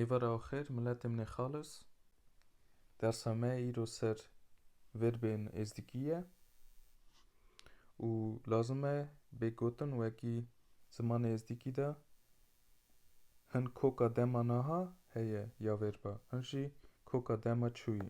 Êvar a xêr miletê min ê xalis. Dersa me îro ser verbên êzdikî ye û lazim e bê gotin wekî zimanê êzdikî de hin koka dema naha heye ya verba hin jî koka dema çûyî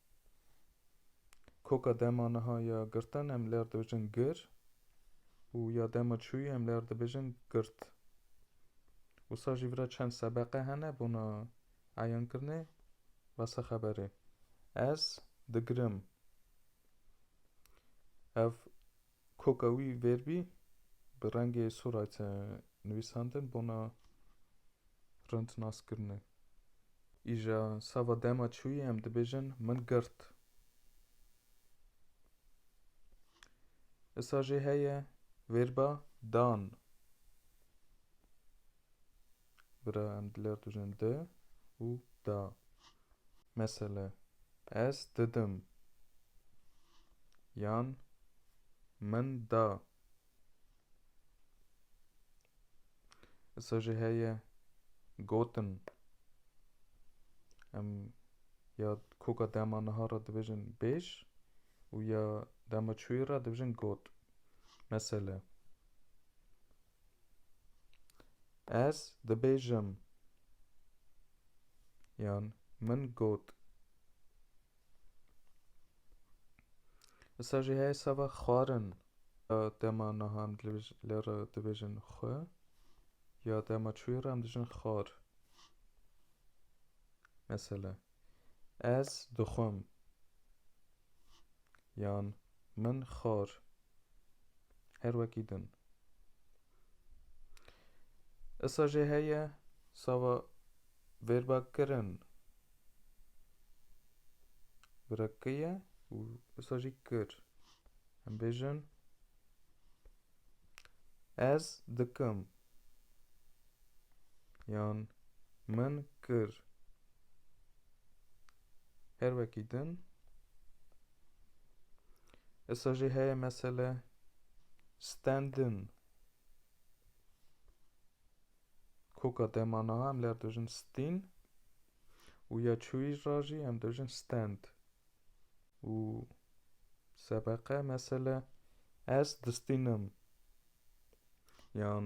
Koka dema niha ya girtin em li her dibêjin gir û ya dema çûyî em li her dibêjin girt. Wisa jî vira çend sebeqe hene bona eyankirinê basa xeberê. Ez digirim. Ev Koka wî vêrbî bi rengê Surayte nivîsandin bona rind naskirinê. Îja sava dema çûyî em dibêjin min girt. Isa jê heye vêrba dan. Bira em diler tu jin di û da. Mesele, ez didim yan min da. Isa jî heye gotin em ya koka dema niha re dibêjin bêj û ya dema çûyî re dibêjin got. Mesele. Ez dibêjim yan min got. Issa jî heye seba xwarin. Dema niha em lê re dibêjin xwe ya dema çûyê re em dijin xwar. Mesela ez dixwim yan min xwar. Her wekî din. Issa jê heye sava vêrbakirin bira ki ye û issa jî kir. Em bêjin ez dikim yan min kir. Her wekî din. Issa jî heye mesele standin. Koka dema niha em ler dojin stin û ya çûyî ra jî em dojin stand. Û sebeqe mesele ez distinim. Yan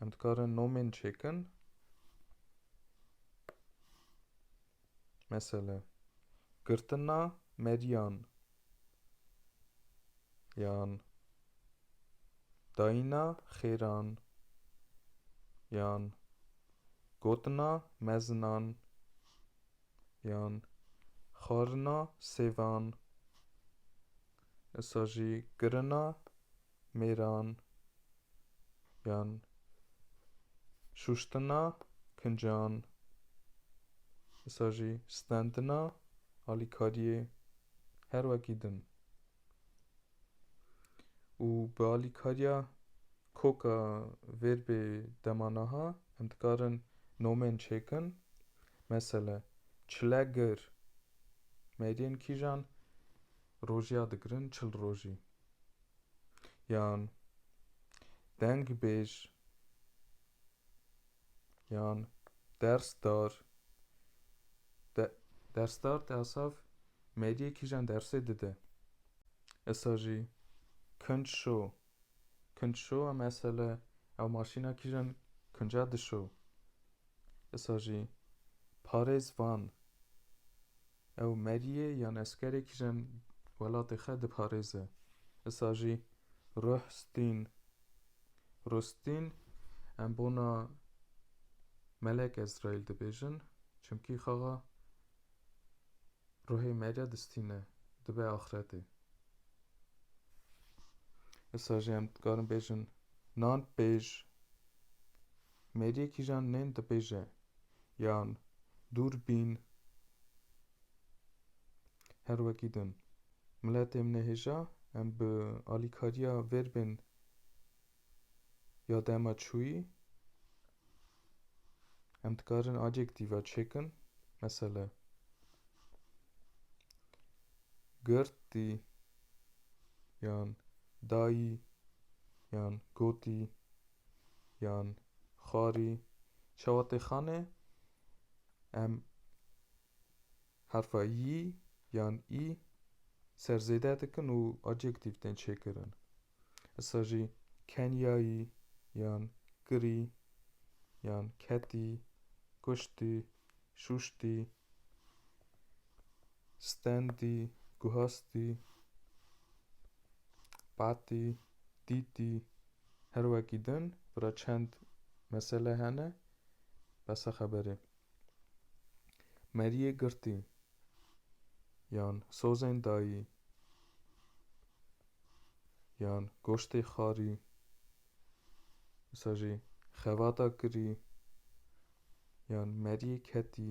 Em dikarin nomên çêkin. Mesele girtina meriyan yan dayîna xêran yan gotina mezinan yan xwarina sêvan, esa jî girina mêran yan şûştina kincan wisa jî stendina alîkariyê her wekî din û bi alîkariya koka vêrbê dema naha em dikarin nomên çêkin mesele çilegir meriyên kîjan Rojiya digirin çil rojî. Yan deng bêj yan ders dar de dersdar te asaf mediyê kîjan dersê dide. Esa jî kinc şo. Kinc şo a mesele ew maşîna kîjan kinca dişo. Esa jî parêz van ew meriyê yan eskerê kişên welatê xwe diparêze. Isa jî ruh stîn. Ruh stîn em bona Melek Ezraîl dibêjin çimkî xaxa ruhê meriya distîne dibe axretê. Isa jî em dikarin bêjin nan pêj. Mêriyê kîjan nên dibêje yan dûr bîn her wekî din. Miletê min ê hêja em bi alîkariya vêrbên ya dema çûyî em dikarin adjektiva çêkin mesele girtî yan dayî yan gotî yan xarî çawa tê xane em herfa yî yan î ser zêde dikin û adjektif tên çêkirin. Issa jî kenyayî yan kirî yan ketî, kuştî, şûştî, stendî, guhastî, patî, dîtî, Her wekî din bira çend mesele hene besa xeberê. Meriyê girtî yan sozên dayî yan goştê xarî wisa jî xevata kirî yan meriyê ketî.